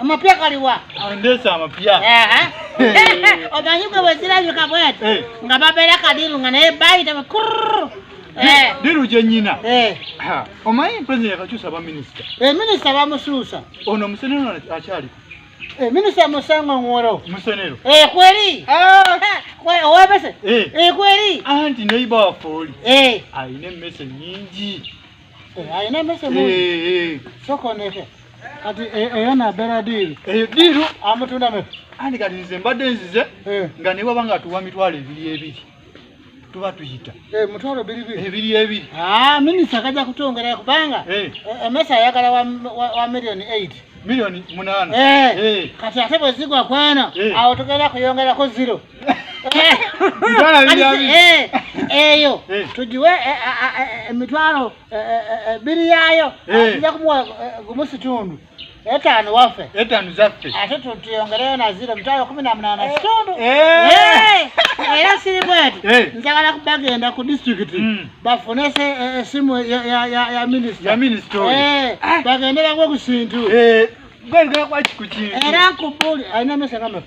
Amapya kaliwa? Andesa amapya. Eh. Omanyi gwe bwezirabika bwati eh. nga babeera kadiru nga naye bayita bakurr eh. diru gye nnyina omanyi president yakakyusa baminisita minisita bamusuusa ono musenero akyali minisita musango ngoro musenero kweri ah. owebese kweri anti neiba wafooli alina emmese nyingi ayina mese mu soko neke kati eyo nabeera diiru eyo diiru amutunda mese andi kati nze mbadde nzize nga ne bwaba nga tuwa mitwalo ebiri ebiri tuba tuyita mutwalo biribiri ebiri ebiri minisita kajja kutwongera kubanga emesa ayagala wa millioni eight millioni munaana kati ate bwezigwa kwana awo tugenda kuyongerako zero Eh, eyo eh. tugiwe eh, emitwalo biri yaayo ajja kumuwa gumu situndu etaano waffe etaano zaffe ate tuyongereyo na ziro emitwalo kumi na munaana situndu era siri bweti njagala bagenda ku disitulikiti hmm. bafune esimu ya minisita bagende bagwe ku kintu era nkubuli alina mesa kamafu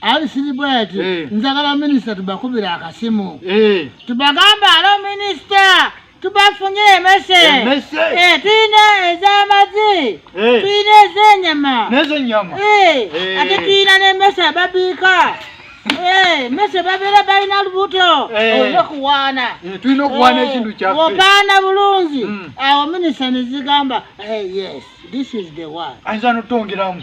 ali siribweti eh. njagala minisita tubakubira akasimu eh. tubagamba alo minisita tubafunye emese eh, tulina ez'amazi tulina ez'enyama ate tulina n'emese ababiika mese babeera balina lubuto olina okuwaana tulina okuwaana ekintu kyaffe opaana bulungi hmm. awo minisita nezigamba yes this is the one ayinza notongeramu